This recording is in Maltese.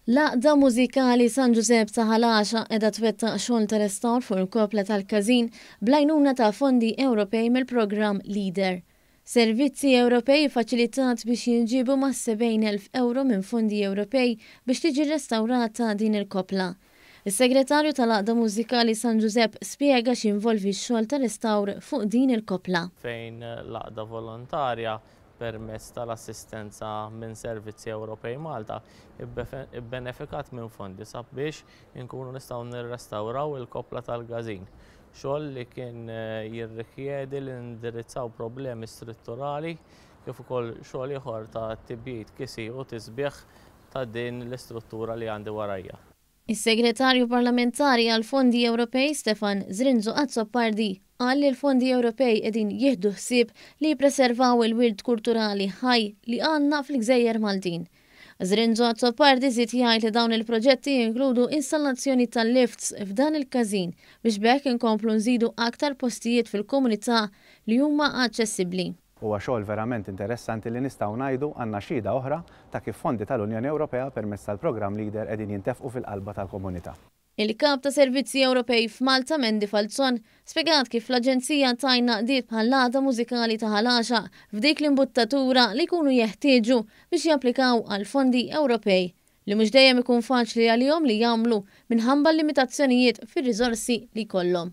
L-Għaqda Mużikali San Ġużepp ta' Ħal Għaxaq qiegħda twettaq xogħol ta' restawr fuq il-koppla tal-każin bl-għajnuna ta' fondi Ewropej mill-programm LEADER. Servizzi Ewropej iffaċilitat biex jinġiebu mas-70,000 ewro minn fondi Ewropej biex tiġi rrestawrata din il-koppla. Is-Segretarju tal-Għaqda Mużikali San Ġużepp spjega x'jinvolvi x-xogħol ta' restawr fuq din il-koppla. fejn l-Għaqda Volontarja, permezz tal-assistenza minn Servizzi Ewropej Malta, ibbenefikat minn fondi sabiex inkunu nistgħu nirrestawraw il-koppla tal-Gazin, xogħol li kien jirrikjedi li nindirizzaw problemi strutturali kif ukoll xogħol ieħor ta' tibjid, kisir u tisbiħ ta' din l-istruttura li għandi warajja. Is-Segretarju Parlamentari għall-Fondi Ewropej Stefan Zrinzo Azzopardi qal li l-Fondi Ewropej qegħdin jieħdu ħsieb li jippreservaw il-wirt kulturali ħaj li għandna fil-gżejjer Maltin. Zrinzo Azzopardi żied jgħid li dawn il-proġetti jinkludu installazzjoni ta' lifts f'dan il-każin biex b'hekk inkomplu nżidu aktar postijiet fil-komunità li huma aċċessibbli. Huwa xogħol verament interessanti li nistgħu ngħidu għandna xhieda oħra ta' kif fondi tal-Unjoni Ewropea permezz tal-Programm Leader qegħdin jintefqu fil-qalba tal-komunità. Il-Kap ta' Servizzi Ewropej f'Malta Mandy Falzon spjegat kif l-Aġenzija tgħin għaqdiet bħall-Għaqda Mużikali ta' Ħal Għaxaq f'dik l-imbuttatura li jkunu jeħtieġu biex japplikaw għall-fondi Ewropej li mhux dejjem ikun faċli għalihom li jagħmlu minħabba l-limitazzjonijiet fir-riżorsi li jkollhom.